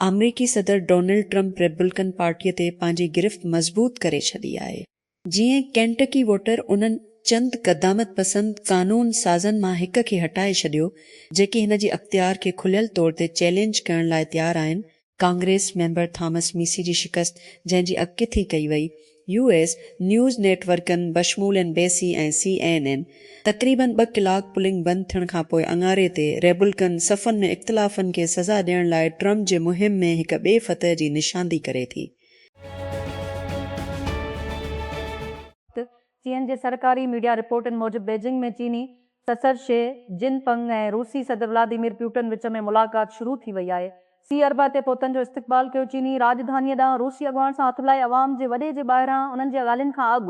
آمريڪي صدر Donald Trump Republican پارٽيء تي پنهنجي گرفت مضبوط ڪري ڇڏي آهي. جيئن ڪينٽڪي ووٽر انهن چند قدامت پسند قانون سازن مان هڪ کي هٽائي ڇڏيو، جيڪي هن جي اختيار کي کليل طور تي چئلينج ڪرڻ لاء تيار آهن، ڪانگريس ميمبر ٿامس ميسي جي شڪست جنهن جي اڳڪٿي ڪئي وئي، يو ايس نيوز نيٽ ورڪن بشمول N B C ۽ C N N تقريبن ٻه ڪلاڪ پولنگ بند ٿيڻ کانپوء اڱاري تي ريبلڪن صفن ۾ اختلافن کي سزا ڏيڻ لاء ٽرمپ جي مهم ۾ هڪ ٻئي فتح جي نشاندي ڪري ٿي. چين جي سرڪاري ميڊيا رپورٽن موجب بيجنگ ۾ چيني صدر شي جن پنگ ۽ روسي صدر ولاديمير پيوٽن وچ ۾ ملاقات شروع ٿي وئي آهي. سي اربع تي پهتن جو استقبال ڪيو چيني راڄڌانيء ڏانهن روسي اڳواڻ سان هٿ ملائي عوام جي وڏي جي ٻاهران انهن جي ڳالهين کان اڳ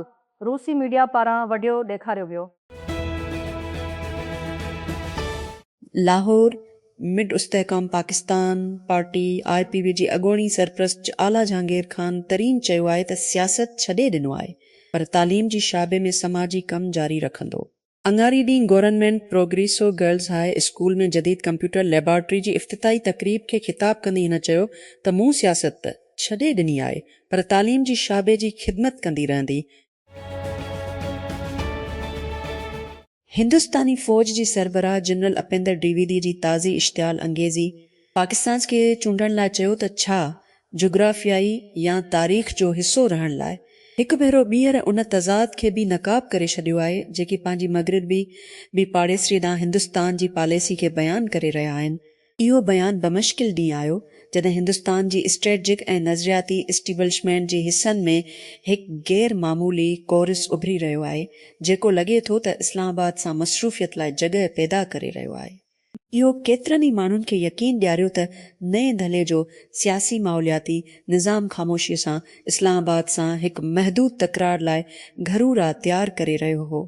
روسي ميڊيا پاران وڊيو ڏيکاريو ويو. لاهور، مڊ Istehkam Pakistan party I P P جي اڳوڻي سرپرست اعليٰ جهانگير خان ترين چيو آهي ته سياست ڇڏي ڏنو آهي پر تعليم جي شعبي ۾ سماجي ڪم جاري رکندو. اڱاري ڏينهن government progressive girls high school ۾ جديد ڪمپيوٽر ليبارٽري جي افتتاحي تقريب کي خطاب ڪندي هن چيو ته مون سياست ته ڇڏي ڏني آهي پر تعليم جي شعبي جي خدمت ڪندي رهندي، هندستاني فوج جي سربراهه جنرل اپيندر ڊويدي جي تازي اشتعال انگيزي پاڪستان کي چونڊڻ لاء چيو ته ڇا جغرافيائي يا تاريخ جو حصو رهڻ لاء هڪ ڀيرو ٻيهر ان تضاد کي بي نقاب ڪري ڇڏيو آهي جيڪي پنهنجي مغربي بي پاڙيسري ڏانهن هندستان جي پاليسي کي بيان ڪري رهيا آهن. اهو بيان بمشڪل ڏينهن آيو جڏهن هندستان جي اسٽريٽجڪ ۽ نظرياتي اسٽيبلشمينٽ جي حصن ۾ هڪ غير معمولي ڪورس اڀري رهيو آهي جيڪو لڳي ٿو ته اسلام آباد سان مصروفيت لاء جڳهه پيدا ڪري رهيو آهي. اهو ڪيترن ئي ماڻهن کي يقين ڏياريو ته نئين دهلي جو سياسي ماحولياتي نظام خاموشيء سان اسلام آباد سان هڪ محدود تڪرار لاء گهرو راهه تيار ڪري رهيو هو.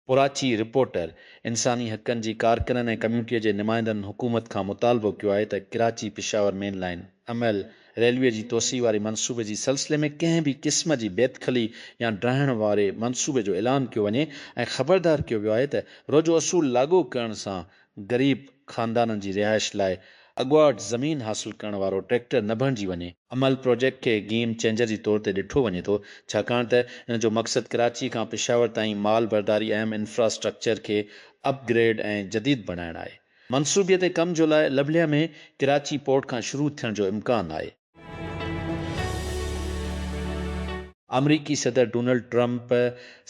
ڪراچي، رپورٽر، انساني حقن جي ڪارڪنن ۽ ڪميونٽيء جي نمائندن حڪومت کان مطالبو ڪيو آهي ته Karachi Peshawar main line M L railway جي توسيع واري منصوبي جي سلسلي ۾ ڪنهن به قسم جي بيدخلي يا ڊاهڻ واري منصوبي جو اعلان ڪيو وڃي ۽ خبردار ڪيو ويو آهي ته روجو اصول لاڳو ڪرڻ سان غريب خاندانن جي رهائش لاء اڳواٽ زمين حاصل ڪرڻ وارو ٽريڪٽر نه بڻجي وڃي. عمل پروجيڪٽ کي گيم چينجر جي طور تي ڏٺو وڃي ٿو، ڇاڪاڻ ته ان جو مقصد ڪراچي کان پشاور تائين مال برداري اهم انفراسٽرڪچر کي اپ گريڊ ۽ جديد بڻائڻ آهي. منصوبي تي ڪم جو لاء لبليا ۾ ڪراچي پورٽ کان شروع ٿيڻ جو امڪان آهي. آمريڪي صدر ڊونلڊ ٽرمپ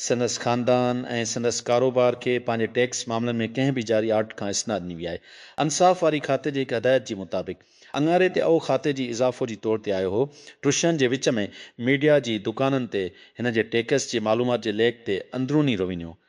سندس خاندان ۽ سندس ڪاروبار کي پنهنجي ٽيڪس معاملن ۾ ڪنهن به جاري آرڊر کان استثنا ڏني وئي آهي. انصاف واري کاتي جي هڪ هدايت جي مطابق اڱاري تي اهو کاتي جي اضافو جي طور تي آيو هو. ٽرشن جي وچ ۾ ميڊيا جي دڪانن تي هن جي ٽيڪس جي معلومات جي ليڪ تي اندروني روينيو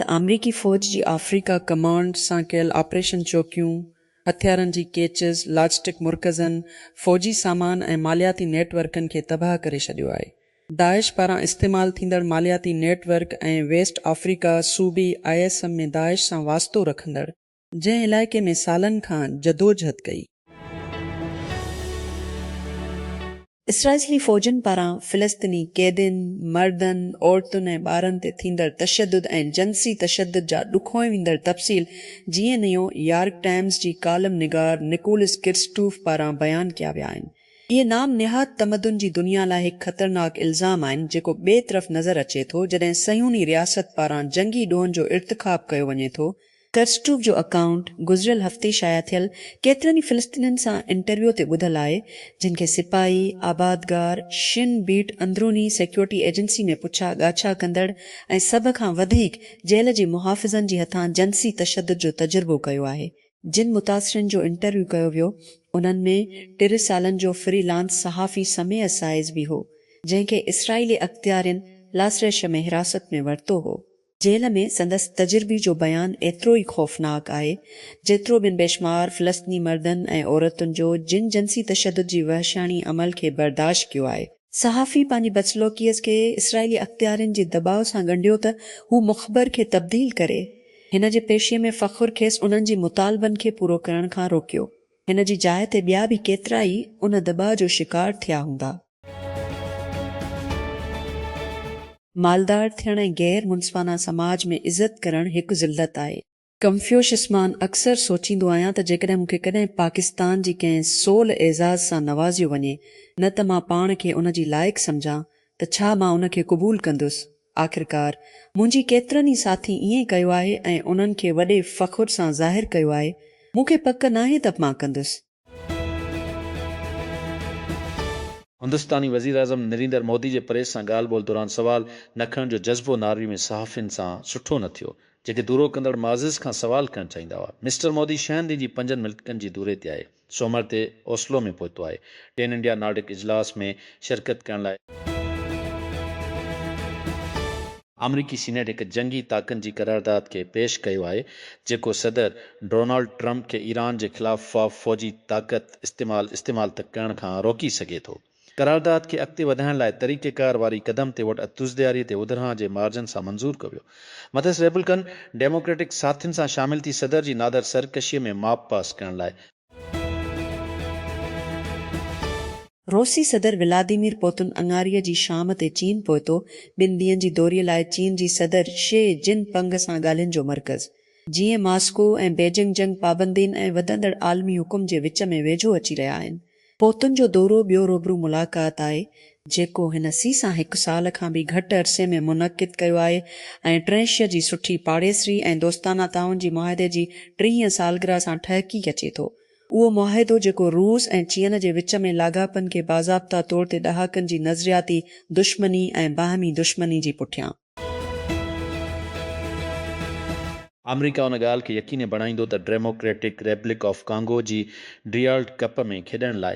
ته آمريڪي فوج جي آفريڪا ڪمانڊ سان ڪيل آپريشن چوڪيون، هٿيارن جي ڪيچز، لاجسٽڪ مرڪزن، فوجي سامان ۽ مالياتي نيٽ ورڪن کي تباهه ڪري ڇڏيو آهي. داعش پاران استعمال ٿيندڙ مالياتي نيٽ ورڪ ۽ ويسٽ آفريڪا صوبي آء ايس ايم ۾ داعش سان واسطو رکندڙ جنهن علائقي ۾ سالن کان جدوجھد ڪئي. اسرائيلي فوجن پاران فلسطيني قيدين، مردن، عورتن ۽ ٻارن تي ٿيندڙ تشدد ۽ جنسي تشدد جا ڏکوئي ويندڙ تفصيل جيئي نيو يارڪ ٽائمز جي ڪالم نگار نڪولس ڪرسٽوف پاران بيان ڪيا ويا آهن. اهي نام نهاد تمدن جي دنيا لاء هڪ خطرناڪ الزام آهن جيڪو ٻئي طرف نظر اچي ٿو جڏهن صهيوني رياست پاران جنگي ڏوهن جو ارتڪاب ڪيو وڃي ٿو ڪرسٽوف جو اڪائونٽ گذريل هفتي شايع ٿيل ڪيترن ئي فلسطينين سان انٽرويو تي ٻڌل آهي، جن کي سپاهي، آبادگار، شين بيٽ اندروني سيڪيورٽي ايجنسي ۾ پڇا ڳاڇا ڪندڙ ۽ سڀ کان وڌيڪ جيل جي محافظن جي هٿان جنسي تشدد جو تجربو ڪيو آهي. جن متاثرين جو انٽرويو ڪيو ويو، انهن ۾ ٽيرهن سالن جو فري لانس صحافي سميع سائز به هو، جنهن کي اسرائيلي اختيارين لاسريش ۾ حراست ۾ ورتو هو. جيل ۾ سندس تجربي جو بيان ايترو ئي خوفناڪ آهي، جيترو بن بيشمار فلسطيني مردن ۽ عورتن جو جن جنسي تشدد جي وحشياڻي عمل کي برداشت ڪيو آهي. صحافي پنهنجي بدسلوڪيء کي اسرائيلي اختيارين جي دٻاء سان ڳنڍيو ته هو مخبر کي تبديل ڪري. هن جي پيشي ۾ فخر کيس انهن جي مطالبن کي پورو ڪرڻ کان روڪيو. هن جي جاء تي ٻيا به ڪيترائي ان دٻاء جو شڪار ٿيا هوندا. مالدار ٿيڻ ۽ غير منصفانه سماج ۾ عزت ڪرڻ هڪ ذلت آهي. ڪنفيوشس مان اڪثر سوچيندو آهيان ته جيڪڏهن مون کي ڪڏهن پاڪستان جي ڪنهن سول اعزاز سان نوازيو وڃي نه ته مان پاڻ کي ان جي لائق سمجهان ته ڇا مان ان کي قبول ڪندس؟ آخرڪار منهنجي ڪيترن ئي ساٿي ائين ڪيو آهي ۽ انهن کي وڏي فخر سان ظاهر ڪيو آهي. مون کي پڪ ناهي ته مان ڪندس. هندستاني وزيراعظم نريندر مودي جي پريس سان ڳالهه ٻولهه دوران سوال نه کڻڻ جو جذبو ناروي ۾ صحافين سان سٺو نه ٿيو، جيڪي دورو ڪندڙ معزز کان سوال ڪرڻ چاهيندا هئا. مسٽر مودي ڇهن ڏينهن جي پنجن ملڪن جي دوري تي آهي. سومر تي اوسلو ۾ پهتو آهي. ٽين انڊيا نارڊڪ اجلاس ۾ شرڪت ڪرڻ لاء. آمريڪي سينيٽ هڪ جنگي طاقن جي قرارداد کي پيش ڪيو آهي جيڪو صدر ڊونالڊ ٽرمپ کي ايران جي خلاف فوجي طاقت استعمال استعمال تھ ڪرڻ کان روڪي سگھي ٿو. قرارداد کي اڳتي وڌائڻ لاء طريقيڪار واري قدم تي ووٽ اتوزدياري تي ودرهان جي مارجن سان منظور ڪيو ويو. مٿس ريپبلڪن ڊيموڪريٽڪ ساٿين سان شامل ٿي صدر جي نادر سرڪشيء ۾ ماپ پاس ڪرڻ لاء. روسي صدر ولاديمير پوتن اڱاري جي شام تي چين پهتو، ٻن ڏينهن جي دوري لاء چين جي صدر شي جن پنگ سان ڳالهين جو مرڪز جيئن ماسڪو ۽ بيجنگ جنگ پابندين ۽ وڌندڙ عالمي حڪم جي وچ ۾ ويجهو اچي رهيا آهن، پوتن جو دورو ٻيو روبرو ملاقات آهي، جيڪو هن سيسان هڪ سال کان به گهٽ عرصي ۾ منعقد ڪيو آهي ۽ ٽرينشيء جي سٺي پاڙيسري ۽ دوستانه تعاون جي معاهدي جي ٽيهين سالگرهه سان ٺهڪي اچي ٿو. اهو معاهدو جيڪو روس ۽ چين جي وچ ۾ لاڳاپن کي باضابطا طور تي ڏهاڪن جي نظرياتي دشمني ۽ باهمي دشمني جي پٺيان، آمريڪا ان ڳالهه کي يقيني بڻائيندو ته ڊيموڪريٽڪ ريپبلڪ آف ڪانگو جي ڊريالڊ ڪپ ۾ کيڏڻ لاء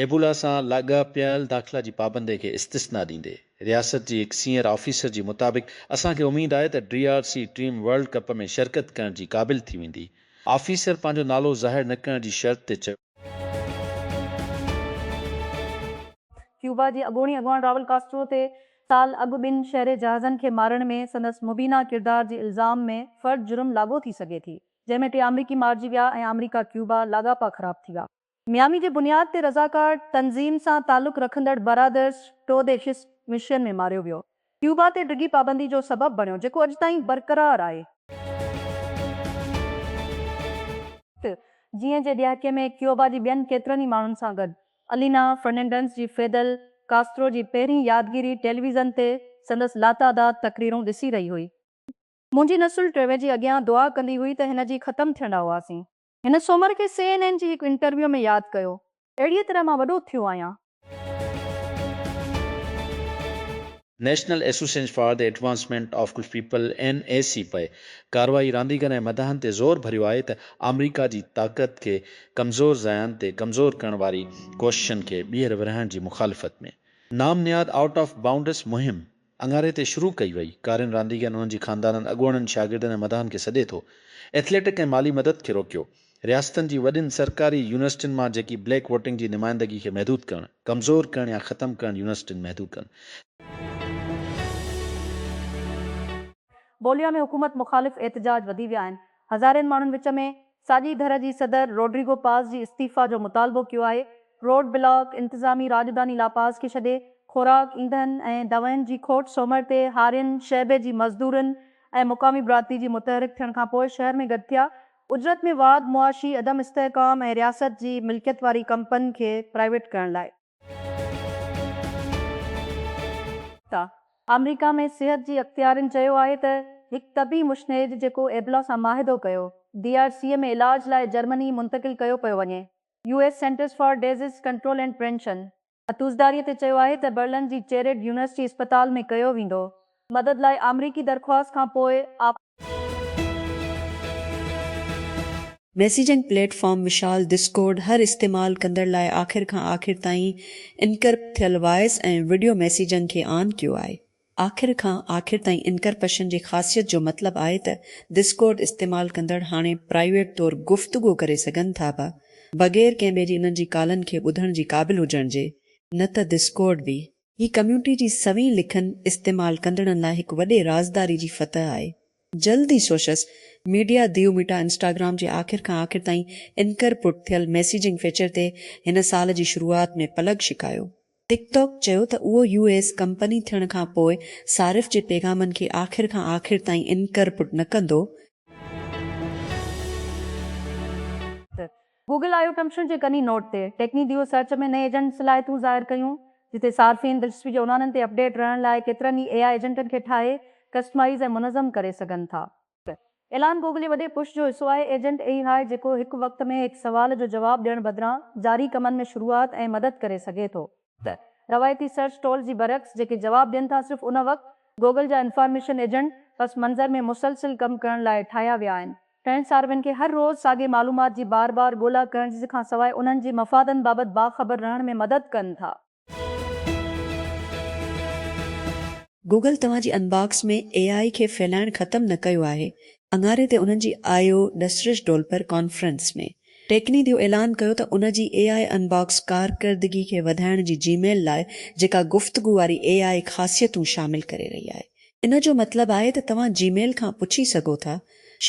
ايبولا سان لاڳاپيل داخلا جي پابندي کي استثنا ڏيندي. رياست جي هڪ سينئر آفيسر جي مطابق اسان کي اميد آهي ته D R C team world cup ۾ شرڪت ڪرڻ جي قابل ٿي ويندي. آفيسر پنهنجو نالو ظاهر نه ڪرڻ جي شرط تي چيو. ڪيوبا جي اڳوڻي اڳواڻ راول ڪاسٽرو تي سال اڳ ٻن شهري جهازن کي مارڻ ۾ سندس مبينا ڪردار جي الزام ۾ فرد جرم لاڳو ٿي سگهي ٿي، جنهن ۾ ٽي آمريڪي مارجي ويا ۽ آمريڪا ڪيوبا لاڳاپا خراب ٿي ويا. ميامي جي بنياد تي رضاڪار تنظيم سان تعلق رکندڙ برادرز ٽو دي شس مشين ۾ ماريو ويو. ڪيوبا تي ڊگهي پابندي جو سبب بڻيو، جيڪو اڄ تائين برقرار آهي. ٽ جيئن جي ڏهاڪي ۾ ڪيوبا جي ٻين ڪيترن ئي ماڻهن سان گڏ الينا فرننڊنس جي فيدل ڪاسترو جي پهرين يادگيري ٽيليويزن تي سندس لاتعداد تقريرون ڏسي رهي هئي. منهنجي نسل ٽيوي جي اڳيان دعا ڪندي هئي ته هن جي ختم ٿيڻ ڏانهن هئاسين. هن سومر کي سي اين اين جي هڪ انٽرويو ۾ ياد ڪيو، اهڙيء طرح مان وڏو ٿيو آهيان. National association for the advancement of coloured people, N A C P, ڪارروائي رانديگرن ۽ مداحن تي زور ڀريو آهي ته آمريڪا جي طاقت کي ڪمزور ضايعن تي ڪمزور ڪرڻ واري ڪوششن کي ٻيهر ورهائڻ جي مخالفت ۾ نام نهاد آئوٽ آف بائونڊس مهم اڱاري تي شروع ڪئي وئي ڪارين رانديگرن انهن جي خاندانن اڳواڻن شاگردن ۽ مداحن کي سڏي ٿو ايٿليٽڪ ۽ مالي مدد کي روڪيو رياستن جي وڏين سرڪاري يونيورسٽين مان جيڪي بليڪ ووٽنگ جي نمائندگي کي محدود ڪرڻ، ڪمزور ڪرڻ يا ختم ڪرڻ يونيورسٽين محدود ڪن. بوليا ۾ حڪومت مخالف احتجاج وڌي ويا آهن، هزارين ماڻهن وچ ۾ ساڄي ڌر جي صدر روڊريگو پاز جي استعيفيٰ جو مطالبو ڪيو آهي، روڊ بلاڪ، انتظامي راڄڌاني لا پاز کي ڇڏي خوراڪ، ايندهن ۽ دوائن جي کوٽ سومر تي هارين شعبي جي مزدورن ۽ مقامي برادري جي متحرڪ ٿيڻ کانپوء شهر ۾ گڏ ٿيا ۽ اجرت ۾ واڌ، معاشي عدم استحڪام ۽ رياست جي ملڪيت واري ڪمپن کي پرائيويٽ ڪرڻ لاء. ٽا. آمريڪا ۾ صحت جي اختيارين چيو آهي ته هڪ طبي مشنيد جيڪو ايبلا سان معاهدو ڪيو، ڊي آر سيء ۾ علاج لاء جرمني منتقل ڪيو پيو وڃي، U S centers for disease control and prevention, اتوزداريء تي چيو آهي ته برلن جي چيريڊ يونيورسٽي اسپتال ۾ ڪيو ويندو. مدد لاء آمريڪي درخواست کان پوء آ. ميسيجنگ پليٽ فارم مثال دسڪورڊ هر استعمال ڪندڙ لاء آخر کان آخر تائين انڪرپٽ ٿيل وائس ۽ وڊيو ميسيجنگ کي آن ڪيو آهي. آخر کان آخر تائين انڪرپشن جي خاصيت جو مطلب آهي ته دسڪورڊ استعمال ڪندڙ هاڻي پرائيويٽ طور گفتگو ڪري سگهن ٿا به بغير ڪنهن ٻئي جي انهن جي ڪالن کي ٻڌڻ جي قابل هجڻ جي نه ته دسڪورڊ به هي ڪميونٽي جي سوين لکن استعمال ڪندڙن لاء هڪ وڏي رازداري جي فتح آهي جلد ئي سوشس ميڊيا ديو ميٽا انسٽاگرام جي آخر کان آخر تائين انڪرپٽ ٿيل ميسيجنگ فيچر تي هن سال جي شروعات ۾ پلگ شڪايو ٽڪ ٽاڪ چيو ته اهو يو ايس ڪمپني ٿيڻ کان پوء صارف جي پيغامن کي آخر کان آخر تائين انڪرپٽ نه ڪندو. گوگل آيو ڪمشن جي ڪني نوٽ تي ٽيڪني ديو سرچ ۾ نئين ايجنٽ صلاحيتون ظاهر ڪيون، جتي صارفين دلچسپي جي عنوانن تي اپڊيٽ رهڻ لاء ڪيترن ئي اي آء ايجنٽن کي ٺاهي، ڪسٽمائيز ۽ منظم ڪري سگهن ٿا. ايلان گوگل جي وڏي پش جو حصو آهي، ايجنٽ اي آء جيڪو هڪ وقت ۾ هڪ سوال جو جواب ڏيڻ بدران جاري ڪمن ۾ شروعات ۽ مدد ڪري سگهي ٿو ته روايتي سرچ ٽول جي برعڪس جيڪي جواب ڏين ٿا صرف ان وقت گوگل جا انفارميشن ايجنٽ پس منظر ۾ مسلسل ڪم ڪرڻ لاء ٺاهيا ويا آهن. ٽرينڊ ساروين کي هر روز ساڳي معلومات جي بار بار ڳولا ڪرڻ جي کان سواء انهن جي مفادن بابت باخبر رهڻ ۾ مدد ڪن ٿا. گوگل توهان جي انباڪس ۾ اي آء کي ڦهلائڻ ختم نه ڪيو آهي، اڱاري تي انهن جي آء او ڊسرش ڊولپر ڪانفرنس ۾ ٽيڪني ديو اعلان ڪيو ته ان جي اي آء انباڪس ڪارڪردگي کي وڌائڻ جي جي ميل لاء جيڪا گفتگو واري اي آء خاصيتون شامل ڪري رهي آهي ان جو مطلب آهي ته توهان جي ميل کان پڇي سگهو ٿا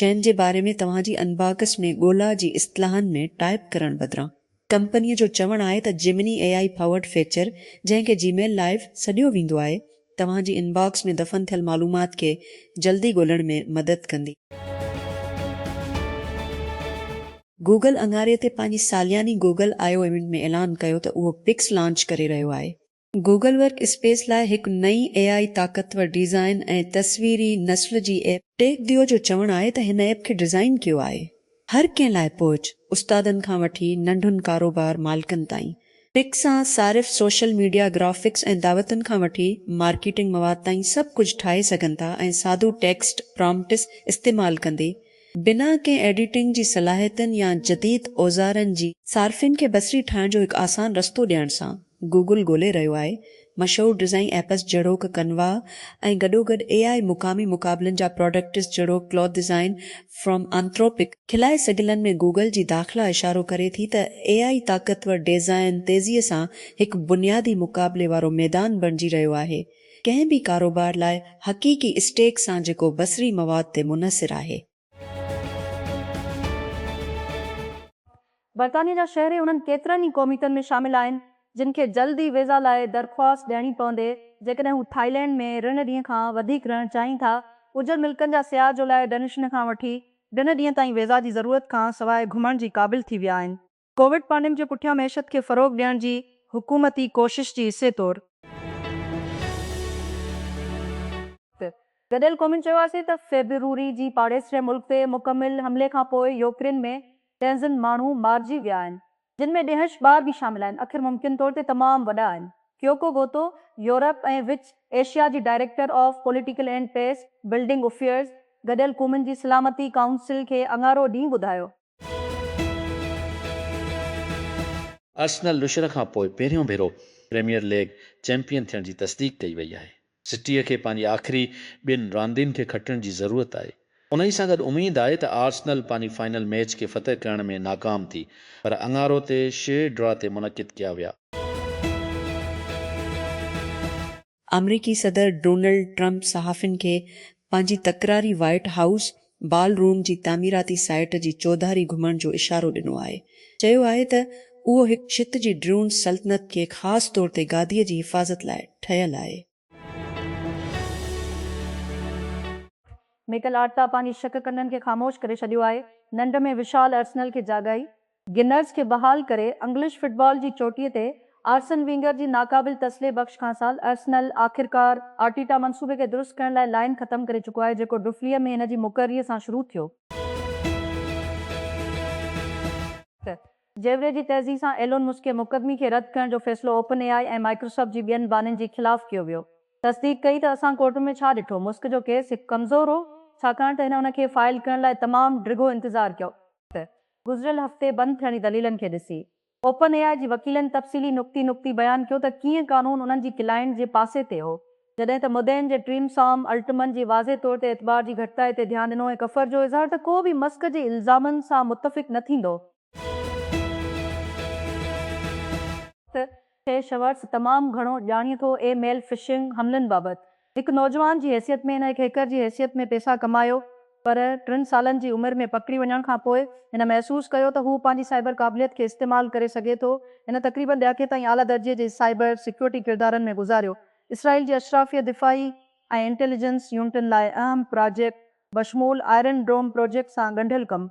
شين جي باري ۾ توهان جي انباڪس ۾ ڳولا جي اصطلاحن ۾ ٽائپ ڪرڻ بدران ڪمپنيء جو چوڻ آهي ته Gemini A I powered feature جنهن کي جيميل لائيو سڏيو ويندو آهي، توهان جي ان باڪس ۾ دفن ٿيل معلومات کي جلدي ڳولڻ ۾ مدد ڪندي. گوگل اڱاري تي پنهنجي سالياني گوگل آئي او ايونٽ ۾ اعلان ڪيو ته اهو پڪس لانچ ڪري رهيو آهي. گوگل ورڪ اسپيس لاء هڪ نئين اي آء طاقتور ڊيزائن ۽ تصويري نسل جي ايپ، ٽيڪ ديو جو چوڻ آهي ته هن ايپ کي ڊيزائن ڪيو آهي هر ڪنهن لاء پهچ، استادن کان وٺي ننڍن ڪاروبار مالڪن تائين، پڪ سان صارف سوشل ميڊيا گرافڪس ۽ دعوتن کان وٺي مارڪيٽنگ مواد تائين سڀ ڪجهه ٺاهي سگهن ٿا ۽ سادو ٽيڪسٽ پرامپٽس استعمال ڪندي بنا ڪنهن ايڊيٽنگ جي صلاحيتن يا جديد اوزارن جي صارفين کي بصري ٺاهڻ جو هڪ آسان رستو ڏيڻ سان گوگل ڳولي رهيو آهي مشهور ڊزائين ايپس جهڙوڪ ڪنوا ۽ گڏوگڏ اي آء مقامي مقابلن جا پراڊڪٽس جهڙوڪ ڪلوٿ ڊزائين فرم آنٿروپڪ، خلائي سگهلن ۾ گوگل جي داخلا اشارو ڪري ٿي ته اي آء طاقتور ڊيزائين تيزي سان هڪ بنيادي مقابلي وارو ميدان بڻجي رهيو آهي ڪنهن به ڪاروبار لاء حقيقي اسٽيڪ سان جيڪو بصري مواد تي منحصر آهي. برطانيه جا شهري انهن ڪيترن ئي قوميتن ۾ شامل آهن جن کي جلد ئي ويزا لاء درخواست ڏيڻي پوندي جيڪڏهن هو ٿائلينڊ ۾ رن ڏينهن کان وڌيڪ رهڻ چاهين ٿا اجهر ملڪن جا سياح جولاء ڊنشن کان وٺي ڊن ڏينهن تائين ويزا جي ضرورت کان سواء گهمڻ جي قابل ٿي ويا آهن. ڪووڊ پانڊيم جي پٺيان معيشت کي فروغ ڏيڻ جي حڪومتي ڪوشش جي حصي طور. گڏيل قومن چيو آسي ته فيبروري جي پاڙيسري ملڪ تي مڪمل حملي کانپوء يوڪرين ۾ ٽينزن ماڻهو مارجي ويا آهن جن ۾ ڏيهش ٻار به شامل آهن اکر ممڪن طور تي تمام وڏا آهن ڪيوڪو گوتو يورپ ۽ وچ ايشيا جي director of political and peacebuilding affairs گڏيل قومن جي سلامتي ڪائونسل کي اڱارو ڏينهن ٻڌايو ارسنل نشر کان پوء پهريون ڀيرو پريميئر ليگ چيمپيئن ٿيڻ جي تصديق ڪئي وئي آهي. سٽيء کي پنهنجي آخري ٻن راندين کي کٽڻ جي ضرورت آهي، انهي سان گڏ اميد آهي ته آرسنل پنهنجي فائنل ميچ کي فتح ڪرڻ ۾ ناڪام ٿي پر اڱارو تي شيء ڊرا تي منعقد ڪيا ويا. آمريڪي صدر ڊونلڊ ٽرمپ صحافين کي پنهنجي تڪراري وائيٽ هائوس بال روم جي تعميراتي سائيٽ جي چوڌاري گهمڻ جو اشارو ڏنو آهي. چيو آهي ته اهو هڪ ڇت جي ڊرون سلطنت کي خاص طور تي گاديء جي حفاظت لاء ٺهيل آهي. ميڪل آرٽيٽا پنهنجي شڪ ڪنڊن کي خاموش ڪري ڇڏيو آهي، ننڊ ۾ وشال ارسنل کي جاڳائي. گنرز کي بحال ڪري انگلش فٽبال جي چوٽيء تي آرسن وينگر جي ناقابل تسلي بخش کانسال ارسنل آخرڪار آرٽيٽا منصوبي کي درست ڪرڻ لاء لائين ختم ڪري چڪو آهي جيڪو ڊفليء ۾ هن جي مقرريء سان شروع ٿيو. جيوري جي تيزي سان ايلون مسڪ مقدمي کي رد ڪرڻ جو فيصلو اوپن اي آء ۽ مائڪروسافٽ جي ٻين بانين جي خلاف ڪيو ويو. تصديق ڪئي ته اسان ڪورٽن ۾ ڇا ڏٺو. مسڪ جو ڪيس هڪ ڪمزور هو ڇاڪاڻ ته هن ان کي فائل ڪرڻ لاء تمام ڊگهو انتظار ڪيو. گذريل هفتي بند ٿيڻ جي دليلن کي ڏسي اوپن اي آء جي وڪيلن تفصيلي نقطي نقطي بيان ڪيو ته ڪيئن قانون انهن جي ڪلائنٽ جي پاسي تي هو جڏهن ته مدعين جي ٽيم سام الٽمن جي واضح طور تي اعتبار جي گهٽتائي تي ڌيان ڏنو ۽ ڪفر جو اظهار ته ڪو به مسڪ جي الزامن سان متفق نه ٿيندو ته کي شورٽس تمام گهڻو ڄاڻي ٿو اي ميل فشنگ حملن بابت هڪ نوجوان جي حيثيت ۾ هن هڪ هيڪر جي حيثيت ۾ پيسا ڪمايو پر ٽن سالن جي عمر ۾ پڪڙي وڃڻ کان پوء هن محسوس ڪيو ته هو پنهنجي سائبر قابليت کي استعمال ڪري سگهي ٿو هن تقريبن ڏهاڪي تائين اعليٰ درجي جي سائبر سيڪيورٽي ڪردارن ۾ گذاريو اسرائيل جي اشرافيه دفاعي ۽ انٽيليجنس يونٽن لاء اهم پراجيڪٽ بشمول آئرن ڊوم پراجيڪٽ سان ڳنڍيل ڪم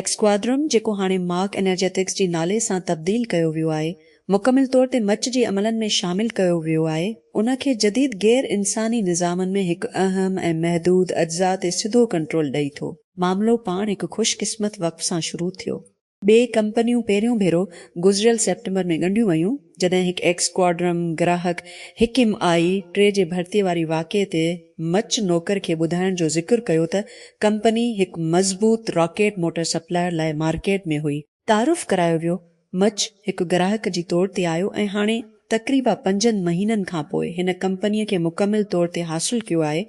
ايڪسڪوادرم، جيڪو هاڻي مارڪ انرجيٽڪس جي نالي سان تبديل ڪيو ويو آهي، مڪمل طور تي مچ جي عملن ۾ شامل ڪيو ويو آهي، ان کي جديد غير انساني نظامن ۾ هڪ اهم ۽ محدود اجزاء تي سڌو ڪنٽرول ڏئي ٿو. معاملو پاڻ هڪ خوش قسمت وقف سان شروع ٿيو. ٻئي ڪمپنيون پهريون ڀيرو گذريل سيپٽمبر ۾ ڳنڍيون ويون، جڏهن هڪ ايڪسڪوادرم گراهڪ هڪيم آء ٽي جي ڀرتي واري واقعي تي، مچ نوڪر کي ٻڌائڻ جو ذڪر ڪيو ته ڪمپني هڪ مضبوط راڪيٽ موٽر سپلائر لاء مارڪيٽ ۾ هئي. تعارف ڪرايو ويو. مچ هڪ گراهڪ جي طور تي آيو ۽ هاڻي تقريبا پنجن مهينن کان پوء هن ڪمپنيء کي مڪمل طور تي حاصل ڪيو آهي.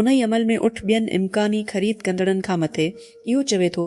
انهي عمل ۾ اٺ ٻين امڪاني خريد ڪندڙن کان مٿي اهو چوي ٿو ته.